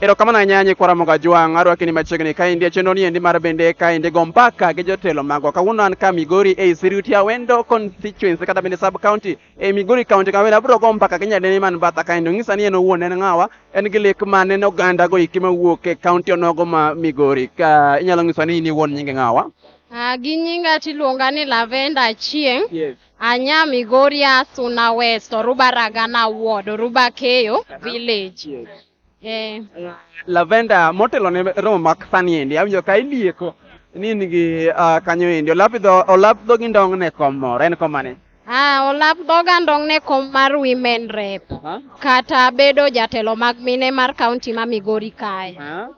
Erokamano ahinya nyikwa Ramogi Ajwang', arwaki ni machiegni kaendi e chenro ni endi mar bende kaendi go mpaka gi jotelo magwa. Kawuono an ka Migori ei Siriuti Awendo constituency kata bende sub county ei Migori county kawendo abiro go mpaka gi nyadendi man batha kaendi onyisa ni en owuon en ng'awa en gi lek mane ne oganda go iki mawuok e county onogo ma Migori. Ka inyalo nyisa ni in iwuon nyingi ng'awa? Ah, gi nyinga tiluonga ni Lavenda Achieng'. Yes. Anya Migori Asuna West, Oruba Ragana Ward, Oruba Keyo Village. Eh. Lavenda motelo ne romo mak sani endi awinjo ka ilieko ni in gi ah, kanyo endi olap dho olap dho gi ndong ne kom moro en kom mane? Ah, olap dhoga ndong ne kom mar women rep Aha. kata bedo jatelo mag mine mar kaunti ma Migori kae. Ah.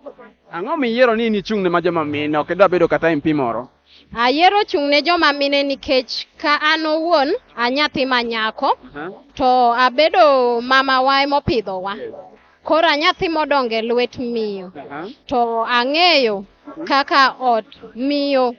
Ang'o miyiero ni in ichung' ne ma joma mine ok idwa bedo kata MP moro? Ayiero chung' ne joma mine nikech ka an owuon a nyathi ma nyako to abedo mama wa emopidhowa. Koro a nyathi modongo e lwet miyo to ang'eyo kaka ot miyo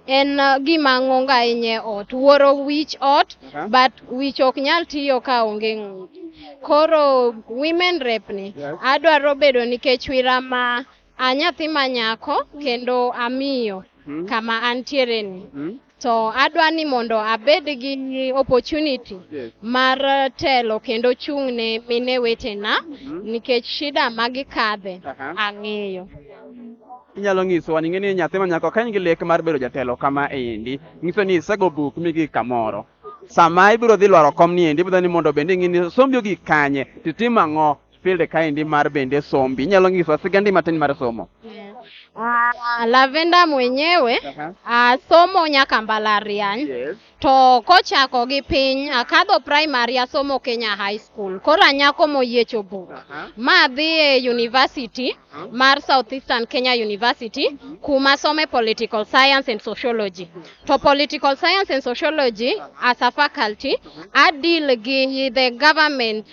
en gima ng'ongo ahinya e ot. Wuoro wich ot but wich ok nyal tiyo ka onge ng'ute. Koro women rep ni adwaro bedo nikech wira ma A nyathi ma nyako kendo amiyo mm. kama antiere ni mm. to adwa ni mondo abed gi opportunity yes. mar telo kendo chung' ne mine wetena mm -hmm. nikech shida ma gikadhe uh -huh. ang'eyo inyalo nyisowa ni ng'eni nyathi ma nyako ka in gi lek mar bedo jatelo kama endi nyiso ni isego buk migi kamoro sama ibiro dhi lwaro kom ni endi ibiro ni mondo bende ing'e ni sombi ogik kanye titim ang'o field kaendi mar bende sombi. Inyalo nyisowa sigandi matin mar somo? Ah, Lavenda mwenyewe Aha. ah, somo nyaka mbalariany Yes. to kochako gi piny akadho primary asomo Kenya High School koro anyako moyiecho buk Aha. ma adhi e university Aha. mar Southeastern Kenya University kuma some political science and sociology to political science and sociology as a faculty I deal gi the government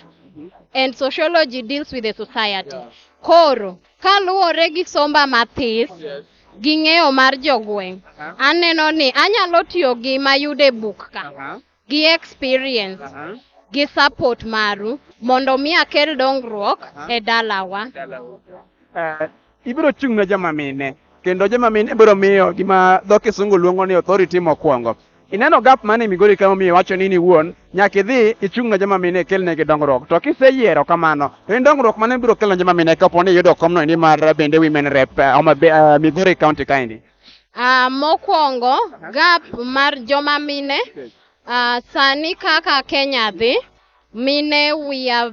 and sociology deals with the society. Koro kaluwore gi somba mathis gi ng'eyo mar jogweng', aneno ni anyalo tiyo gi mayude buk ka gi experience gi support maru mondo mi akel dongruok e dalawa. Eh, Ibiro chung' ne joma mine, kendo joma mine ibiro miyo gima dho kisungu luongo ni authority mokwongo. Ineno gap mane Migori ka momiyo iwacho ni in iwuon nyaka idhi ichung' ne joma mine ikelnegi dongruok. To kiseyiero kamano, to en dongruok mane mibiro kelo ne joma mine kapo ni iyudo komno endi mar bende women rep eh, Homa Bay, eh, Migori County kaendi? Ah, mokwongo gap mar joma mine ah, sani kaka Kenya dhi mine we are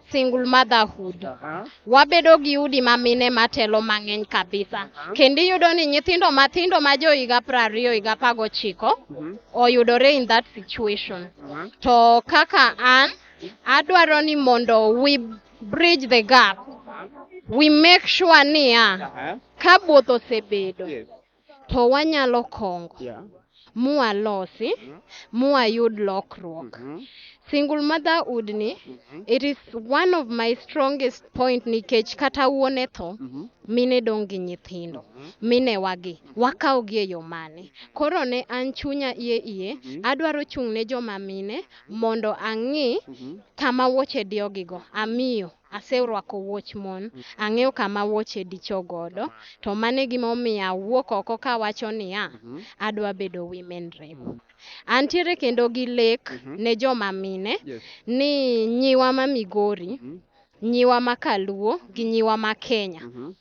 single motherhood Aha. wabedo gi udi ma mine matelo mang'eny kabisa kendo iyudo ni nyithindo mathindo ma jo higa piero ariyo higa apar gochiko Mhm. oyudore in that situation Aha. to kaka an adwaro ni mondo we bridge the gap we make sure niya Aha. ka both osebedo Yes. to wanyalo kongo Yeah. mwalosi mwayud lokruok Mhm. single motherhood ni Mhm. it is one of my strongest point nikech kata wuon e tho Mhm. mine dong' gi nyithindo mine wagi wakawogi e yo mane koro ne an chunya iye iye adwaro chung' ne joma mine mondo ang'i Mhm. kama wuoche diyogigo amiyo Aserwako wuoch mon. Ang'eyo kama wuoche dicho godo, to mano e gima omiyo awuok oko kawacho niya, Adwa bedo women rep. Antiere kendo gi lek ne joma mine ni nyiwa ma Migori, nyiwa ma Kaluo gi nyiwa ma Kenya,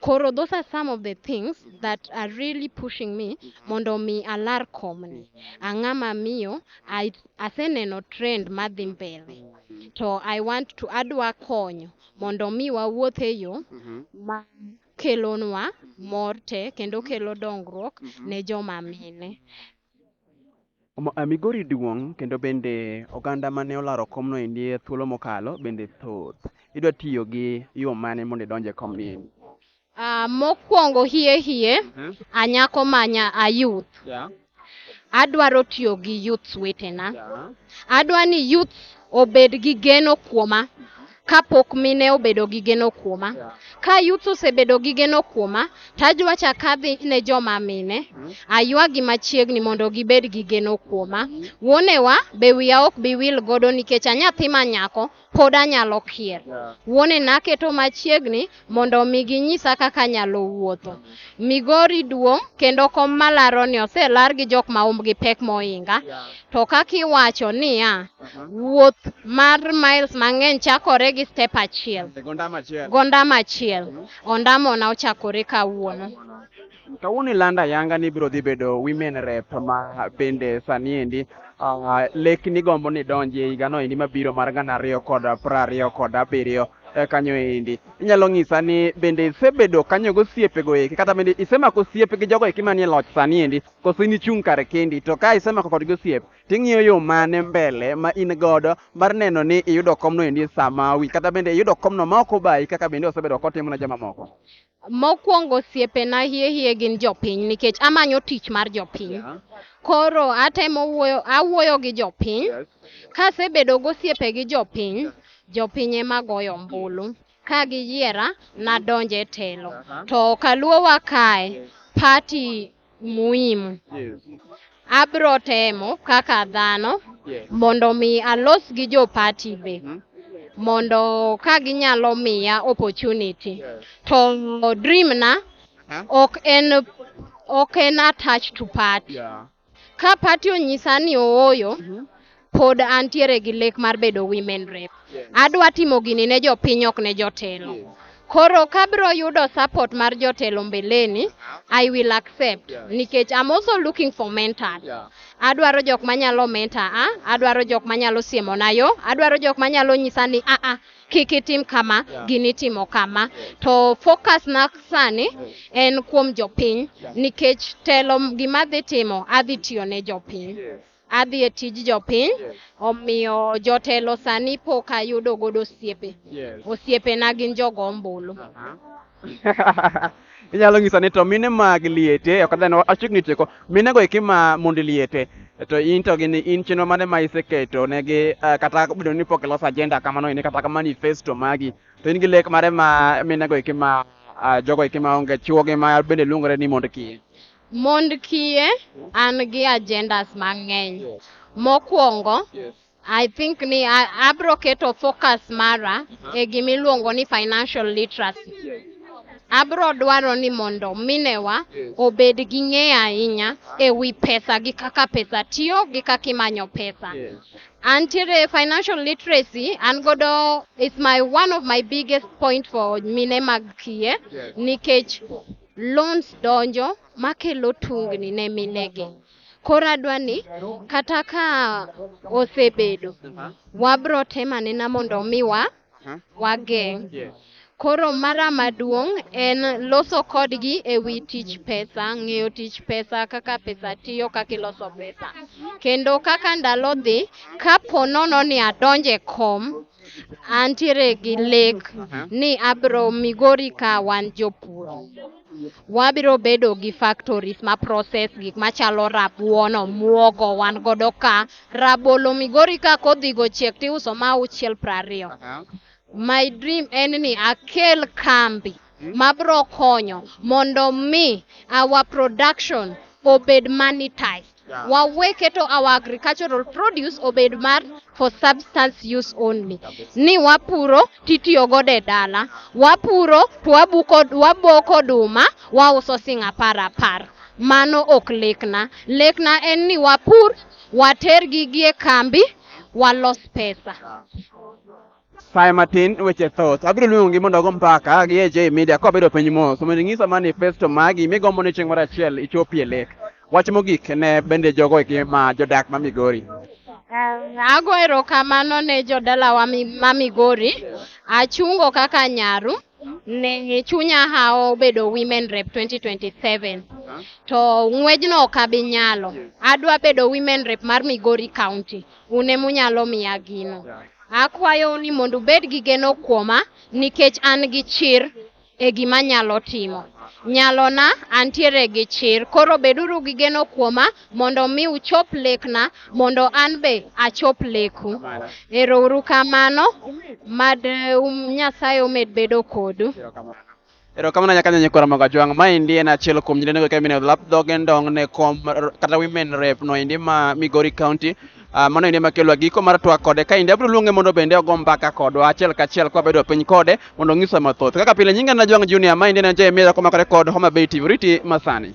Koro those are some of the things that are really pushing me mondo mi alar komni. Ang'a ma miyo, I- aseneno trend madhi mbele. To I want to adwa konyo mondo mi wawuoth e yo ma kelonwa mor te kendo kelo dongruok ne joma mine. Migori duong' kendo bende oganda mane olaro komno endi e thuolo mokalo bende thoth. Idwa tiyo gi yo mane mondo idonj e komni endi? Ah, mokwongo hie hie, Mhm. anyako manya a youth. Yeah, Adwaro tiyo gi youths wetena. yeah. Adwa ni youth obed gi geno kuoma. kapok mine obedo gi geno kuoma. Ka youth osebedo gi geno kuoma, to ajwacha kadhi ne joma mine, aywagi machiegni mondo gibed gi geno kuoma. Wuonewa be wiya ok bi wil godo nikech anyathi ma nyako, pod anyalo kier. Wuonena aketo machiegni. mondo omi ginyisa kaka anyalo wuotho. Migori duong' kendo kom malaroni oselar gi jok ma umbgi pek mohinga, to kaka iwacho niya, wuoth mar miles mang'eny chakore gi step achiel, gondam achiel, ondamona ochakore kawuono. Kawuono ilanda yanga ni biro dhi bedo women rep ma bende sani endi uh, lek ni gombo ni donji e higano endi mabiro mar gana ariyo kod prariyo kod abiriyo e kanyo endi inyalo ng'isa ni bende isebedo kanyo gosiepego eki kata bende isemako osiep gi jogo eki manie loch sani endi koso in ichung' kar kendi to ka isemako kodgi osiep ting'iyo yo mane mbele ma in godo mar neno ni iyudo komno endi sama wi kata bende iyudo komno ma ok obayi kaka bende osebedo kotimo ne jomamoko Mokwongo osiepena hie hie gin jopiny nikech amanyo tich mar jopiny. Yeah. Koro atemo wuoyo, awuoyo gi jopiny. Yes. Kasebedo gosiepe gi jopiny, jopiny ema goyo ombulu. Ka giyiera, nadonje telo. Uh-huh. To Kaluowa kae, party muhimu. Yes. Abro temo kaka dhano Yes. mondo mi alos gi jo party be Mhm. mondo ka ginyalo miya opportunity. Yes. To dream na Huh? ok en ok en attached to party. Yeah. Ka party onyisa ni ooyo, Mhm. pod antiere gi lek mar bedo women rep. Adwa timo gini ne jopiny ok ne jotelo. Koro kabro yudo support mar jotelo mbeleni, I will accept nikech I'm also looking for mentor. Adwaro jok manyalo mentor a, adwaro jok manyalo siemona yo, adwaro jok manyalo nyisa ni a a kik itim kama, gini itimo kama. To focus na sani en kuom jopiny nikech telo gima adhi timo adhi tiyo ne jopiny. adhi e tij jopiny Yes. omiyo jotelo sani pok ayudo godo osiepe Yes. osiepena gin jogo ombulu inyalo ng'iso ni to mine mag liete ok adhano achiegni tieko mine go eki ma mond liete to in to gini in chenro mane ma iseketo negi eh, kata bedo ni pok iloso agenda kamano ini kata ka manifesto magi to in gi lek mare ma mine go eki ma ah, jogo eki ma onge chuogi ma bende luongore ni mond kiye Mond kiye an gi agendas mang'eny. Mokwongo, I think ni a- abro keto focus mara e gimiluongo ni financial literacy. Abro dwaro ni mondo minewa obed gi ng'eyo ahinya e wi pesa gi kaka pesa tiyo gi kaka imanyo pesa. Antiere financial literacy an godo is my one of my biggest point for mine mag kiye nikech loans donjo makelo tungni ne minegi. Koro adwa ni kata ka osebedo wabro temo anena mondo mi wa wageng'. Koro mara maduong' en loso kodgi e wi tich pesa, ng'eyo tich pesa, kaka pesa tiyo, kaka iloso pesa. Kendo kaka ndalo dhi, kapo nono ni adonje kom. Antiere gi lek ni abiro migori ka wan jopur. Wabiro bedo gi factories ma process gik machalo rabuon, omuogo wan godo ka. Rabolo migori ka kodhigo ochiek tiuso ma auchiel prariyo. My dream en ni akel kambi mabiro konyo mondo mi our production obed monetized. Yeah. wawe keto our agricultural produce obed mar for substance use only ni wapuro titiyo godo e dala wapuro to wabuko waboko oduma wauso sing apar apar mano ok lekna lekna en ni wapur watergi gi e kambi walos pesa Sae matin weche thoth. Abiro luongi mondo ogo mpaka gi AJ Media ka wabedo piny mos mondo inyisa manifesto magi migombo ni chieng' moro achiel ichopie lek. Wach mogik ne bende jogo eki ma jodak ma Migori. Um, ago erokamano ne jodalawa mi- ma Migori. Achungo kaka nyaru ne chunya hawo bedo Women Rep 2027. To ng'wejno ok abi nyalo. Adwa bedo Women Rep mar Migori County. Un ema unyalo miya gino. Akwayou ni mondo ubed gi geno kuoma nikech an gi chir e gima anyalo timo. Nyalona antiere gi chir, koro beduru gi geno kuoma mondo mi uchop lekna mondo an be achop leku. Erouru kamano, mad um, Nyasaye omed bedo kodu. Erokamano nyaka nyenye kwara moga jwang'. Ma endi en achiel kuom nyirene go kemine lap dhoge ndong ne kom kata women rep no endi ma Migori County. Uh, mano endi makelwa giko mar twak kode ka endi abiro luonge mondo bende ogo mbaka kodwa achiel kachiel kwa bedo piny kode mondo onyiswa mathoth kaka pile nyinga na jwang' junior ma endi en jemie jakomakore kod Homa Bay TV riti masani